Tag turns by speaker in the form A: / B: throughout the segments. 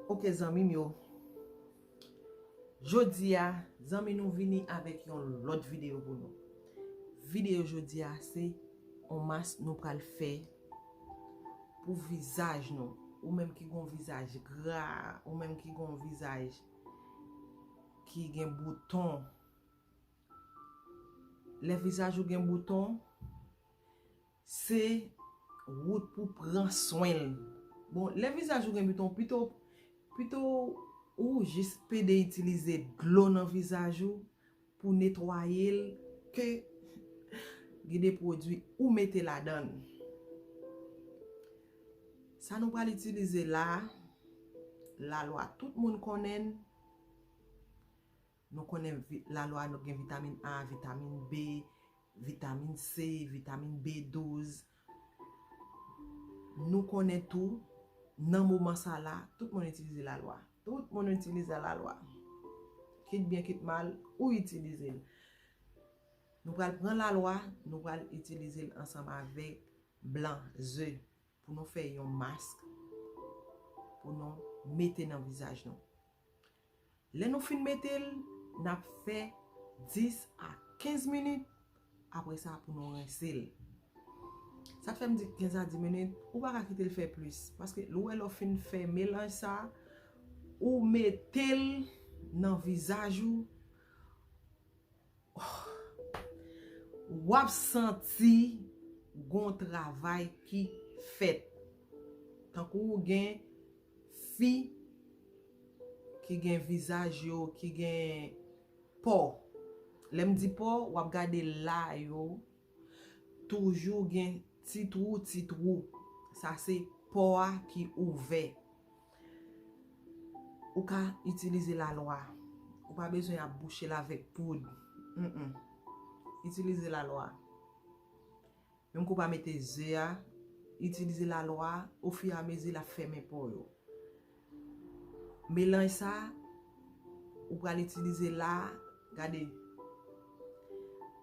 A: Ok zanmi m yo, jodi a zanmi nou vini avèk yon lòt videyo pou nou. Videyo jodi a se, yon mas nou pral fè. Pou vizaj nou, ou menm ki gen yon vizaj gra, ou menm ki gen yon vizaj ki gen bouton. Lè vizaj ou gen bouton, se wout pou pran swen l. Bon, lè vizaj ou gen bouton, pito, pito ou jis pede itilize dlo nan vizaj ou, Pou netwaye l ke gen de pwodui ou mete ladan l. Sa nou pral itilize la, lalwa tout moun konnen l. Nou konnen lalwa nou gen vitamin A, vitamin B, vitamin C, vitamin B12. Nou konnen tou, nan moman sa la, tout moun itilize la lwa. Tout moun itilize la lwa. Kit byen kit mal, ou itilize l. Nou pral pran la lwa, nou pral itilize l ansanm avèk blan ze pou nou fè yon mask pou nou mete nan vizaj nou. Lè nou fin mete l, n ap fè 10 a 15 minit, apre sa pou nou rense l. Sa k fè m di 15 a 10 minit, ou pa ka kite l fè plis. Paske ou wè lè w fin fè melanj sa, ou mete l nan vizaj ou. Wap santi gon travay ki fèt. Tankou ou gen fi ki gen vizaj yo ki gen po. Lèm di po wap gade la yo toujou gen ti twou ti twou. Sa se po a ki ouvè. Ou ka itilize lalwa. Ou pa bezwen ap bouche l avèk poud. Humm. Itilize lalwa. Menm ke w pa mete ze a, itilize lalwa o fi a mezi l ap fèmen po yo. Melanj sa, ou pral itilize la, gade.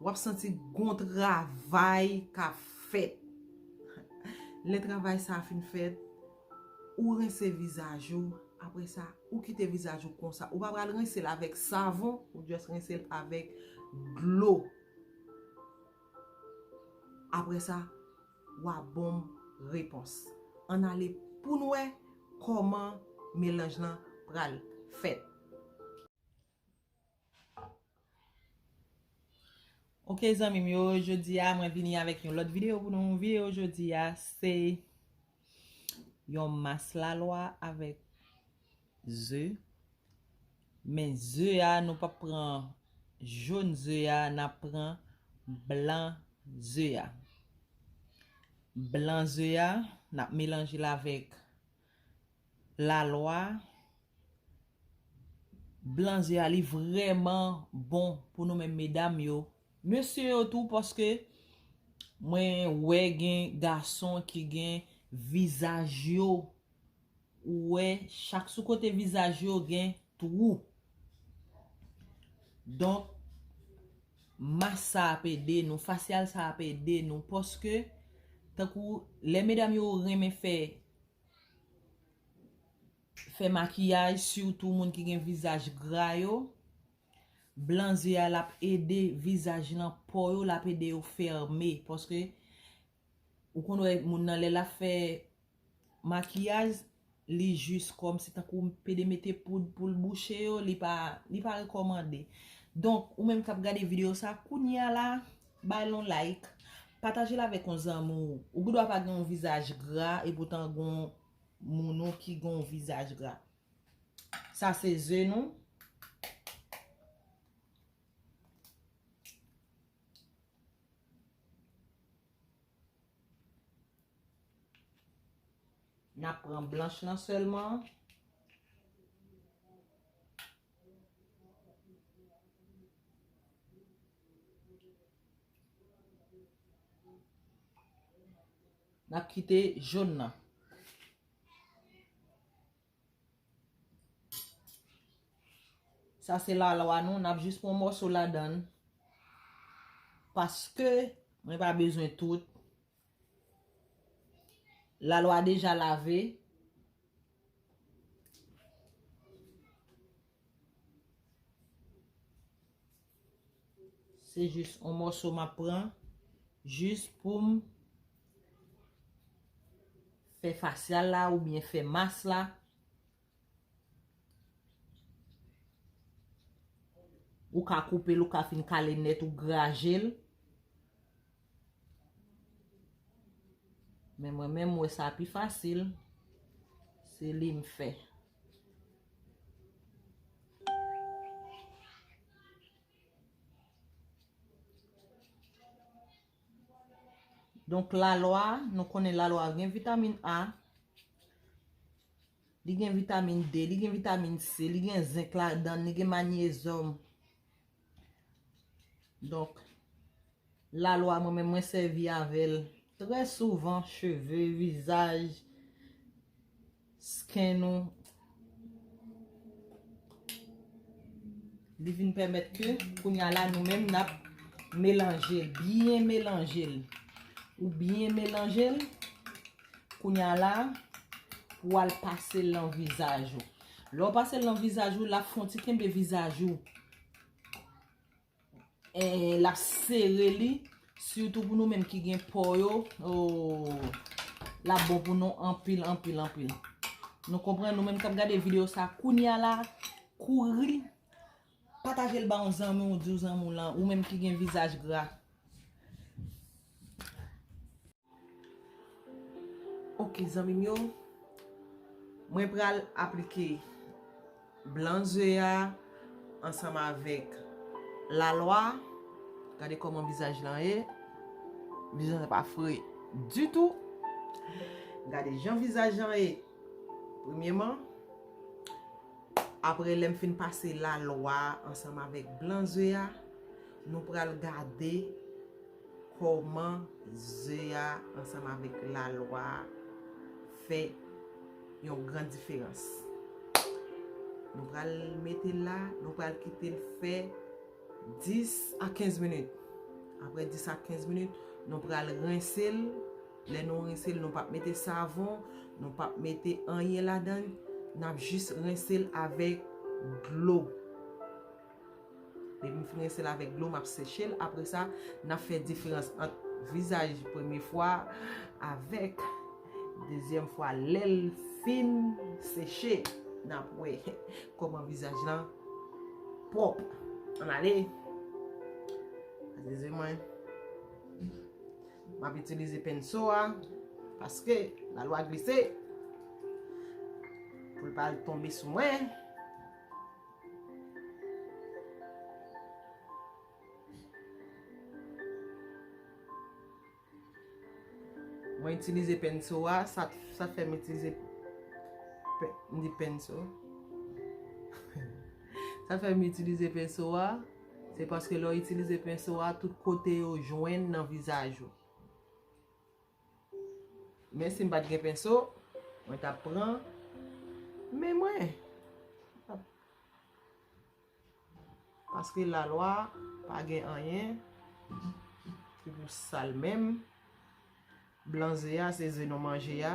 A: W ap santi gon travay k ap fèt. Lè travay sa fin fèt. Ou rense vizaj ou, apre sa, ou kite vizaj ou konsa. Ou pa pral rense l avèk savon, ou just rense l avèk dlo. Apre sa, wa ban m repons. Ann ale pou n wè kòman melanj lan pral fèt. Ok zanmim yo jodia mwen vini avèk yon lòt video pou nou video jodia se yon mas lalwa avèk ze men ze a nou pap pran joun ze a nap pran blan ze a blan ze a nap melanjel avèk la lwa blan ze a li vreman bon pou nou menm medam yo. Mesye yo tou paske mwen wè gen gason ki gen vizaj yo ou wè chak sou kote vizaj yo gen twou. Donk. Mas sa ap ede nou, fasyal sa ap ede nou paske tankou lè medam yo renmen fè fè makiyaj sitou moun ki gen vizaj gra yo, blan ze a l ap ede vizaj lan, po yo l ap ede yo fèmen paske Ou konn wè moun nan lè lap fè makiyaj li jis kòm si tankou pede mete poud pou l bouche yo li pa li pa rekòmande. Donk ou menm kap gade videyo sa kounye a la bay l on like pataje l avèk on zanmi w. Ou gendwa pa gen on vizaj gra epoutan gon moun ou ki gen on vizaj gra. Sa se ze nou. Na pran blanch lan sèlman. Na kite joun nan. Sa se la lwa nou, nap jis pran mòso ladan. Paske, mwen pa bezwen tout. La lwa deja lave. Se jis on mòso map pran jis poum fè fasyal la ou byen fè mas la. Ou ka koupe l ou ka fin kale nèt ou graje l. Men mwen menm mwen sa pi fasil. Se li m fè. Donk la lwa, nou konnen la lwa gen vitamin A, li gen vitamin D, li gen vitamin C, li gen zenk ladan, li gen manyezòm, Donk, la lwa mwen menm mwen sèvi avèl trè souvan cheve, vizaj, skin nou. Li vin pèmèt ke kounya la nou menm nap melanje, byen melanje. Ou byen melanje, kounya la pou al pase lan vizaj ou. Lè w pase l nan vizaj ou, l ap fon ti kenbe vizaj ou. L ap sere li. Sitou pou nou menm ki gen po yo. Ooh. L ap bon pou nou anpil, anpil, anpil. Nou konprann nou menm k ap gade video sa kounya la. Kouri. Pataje l ba yon zanmi ou di w zanmi w lan. Ou menm ki gen vizaj gra. Ok zanmim yo Mwen pral aplike Blan ze a Ansanm avèk Lalwa Gade kòman vizaj lan ye Vizaj lan pa fre ditou Gade jan vizaj lan ye Premyeman Apre lèm fin pase lalwa Ansanm avèk blan ze a Nou pral gade Kòman ze a ansanm avèk lalwa a fè yon gran diferans. Nou pral mete l la, nou pral kite l fè 10 a 15 minit. Aprè 10 a 15 minit, nou pral rense l. Lè nou rense l, nou pap mete savon, nou pap mete anyen ladan l. N ap jis rense l avèk dlo. Depi m fin rinse l avèk dlo m ap seche l apre sa n ap fè diferans ant vizaj premye fwa avèk dezyèm fwa lè l fin seche n ap wè kòman vizaj lan pwòp an ale Zezi mwen M ap itilize penso a paske la lwa glise pou l pa al tonbe sou mwen. Mwen itilize penso a, sa fèm itilize penso. Sa fèm itilize penso a, se paske lò itilize penso a, tout kote yo jwenn nan vizaj ou. Men si m pat gen penso, mwen tap pran men mwen. Paske la lwa pa gen anyen ki pou sal menm. Blan ze a se ze nou manje a.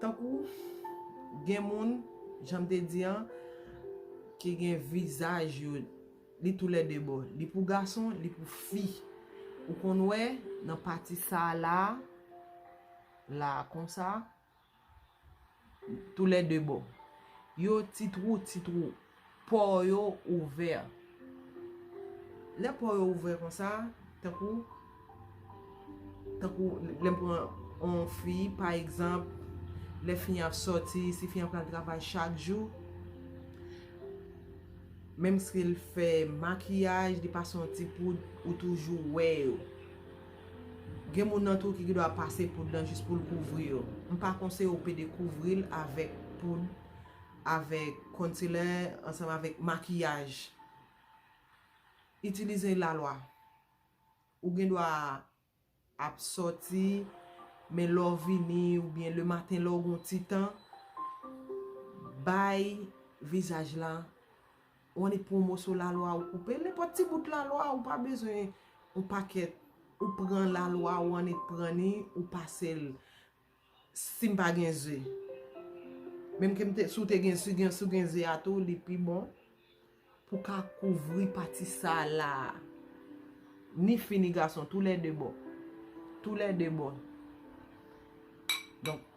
A: Tankou gen moun, jan m te di an, ki gen vizaj yo, li tou lè 2 bò. Li pou gason, li pou fi. Ou konn wè, nan pati sa a la a. la konsa tou lè 2 bò yo ti trou ti trou pò yo ouvè lè pò yo ouvè konsa tankou tankou lè m pran on fi pa egzanp lè fi an ap sòti si fi an pral travay chak jou menm si l fè makiyaj li pase on ti poud ou toujou wè yo. Gen moun nan tou ki gendwa pase poud lan jis poul kouvri yo. M pa konseye w pede kouvril avèk poud, avèk konsilè, ansanm avèk makiyaj. Itilize lalwa. Ou gendwa ap sòti, men lè w vini oubyen le maten lè w gon ti tan, bay vizaj la. Ou annik pou yon moso lalwa ou koupe, nenpòt ti bout lalwa ou pa bezwen yon pakèt ou pran lalwa ou annik pran ni ou pase l si m pa gen ze. Menm ke m te, si w te gen, si gen, si w gen ze a tou li pi bon pou ka kouvri pati sa la a. Ni fi ni gason tou lè de bon. Tou lè de bon. Donk.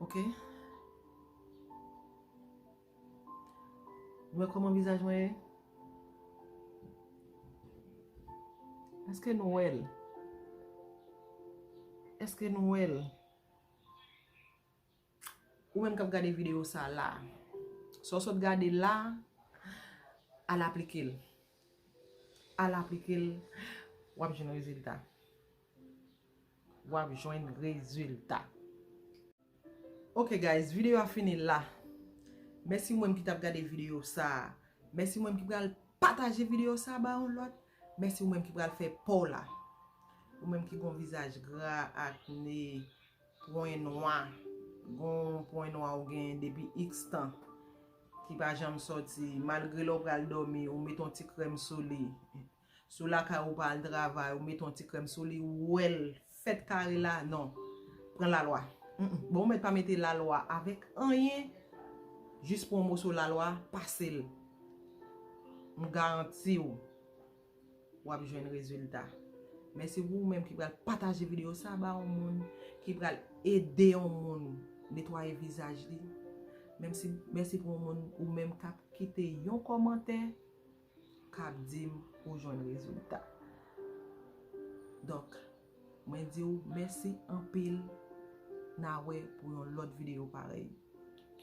A: Ok. Mwen koman vizaj mwen e? Eske nou wèl? Eske nou wèl? Ou menm kap gade video sa la. Sa w sot gade la, al aplike l. Al aplike l, wap jwenn rezilta. wap jwenn rezilta ok guys video a fini la mèsi ou menm ki tap gade video sa mèsi ou menm ki pral pataje video sa ba yon lòt mèsi ou menm ki pral fè paw la ou menm ki gon vizaj gra akne pwen nwa gon pwen nwa ou gen depi x tan ki pa janm soti malgre lè ou pral domi ou met yon ti krèm sou li Si w lakay ou pa al travay ou met yon ti krèm sou li ou wè l fèt kare la non pran lalwa bon ou mèt pa mete lalwa avèk anyen jis pran yon moso lalwa pase l m garanti w w ap jwenn rezilta mèsi pou ou menm ki pral pataje videyo sa ba yon moun ki pral ede yon moun netwaye vizaj li mèsi pou yon moun ou menm k ap kite yon kòmantè kap dim ou jwenn rezilta donk mwen diw mèsi anpil na wè pou yon lòt video parèy.